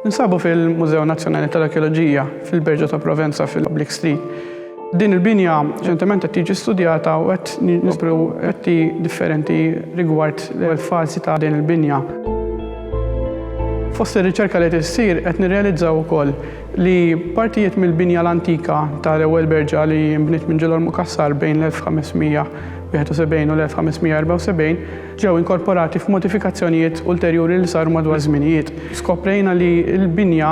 Ninsabu fil-Mużew Nazzjonali tal-Arkeoloġija fil-Berġa ta' Provenza fil-Public Street. Din il-binja ċentement qed tiġi studjata u qed nisbru qetti differenti rigward l-falsi ta' din il-binja. Fost ir-riċerka li tissir qed nirrealizzaw ukoll li partijiet mill-binja l-antika ta' l-ewwel berġa li nbniet minn Ġilgħor Mukassar bejn l-1571 u l-1574 ġew inkorporati f'modifikazzjonijiet ulterjuri li saru madwar iż-żminijiet. Skoprejna li l-binja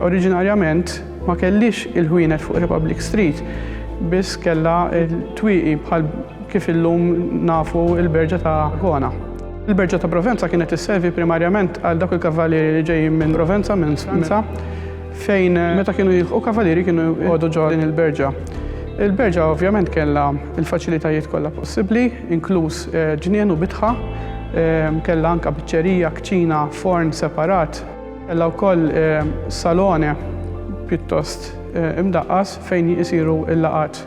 oriġinarjament ma kellhiex il-ħwienet fuq Republic Street, biss kellha t-twieqi bħal kif illum nafu l-berġa ta' Gona. Il-Berġa ta' Provenza kienet isservi primarjament għal dawk il-kavalieri li ġejjin minn Provenza, minn Franza, fejn meta kienu jilħqu kavalieri kienu jqogħdu ġo din il-berġa. Il-berġa ovvjament kellha l-faċilitajiet kollha possibbli, inkluż eh, ġnien u bitħa, eh, kellha anke biċċerija, kċina, forn separat, kellha wkoll eh, salone pjuttost imdaqqas fejn jisiru l-laqat.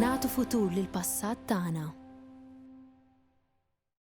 Nagħtu futur lill-passat tagħna.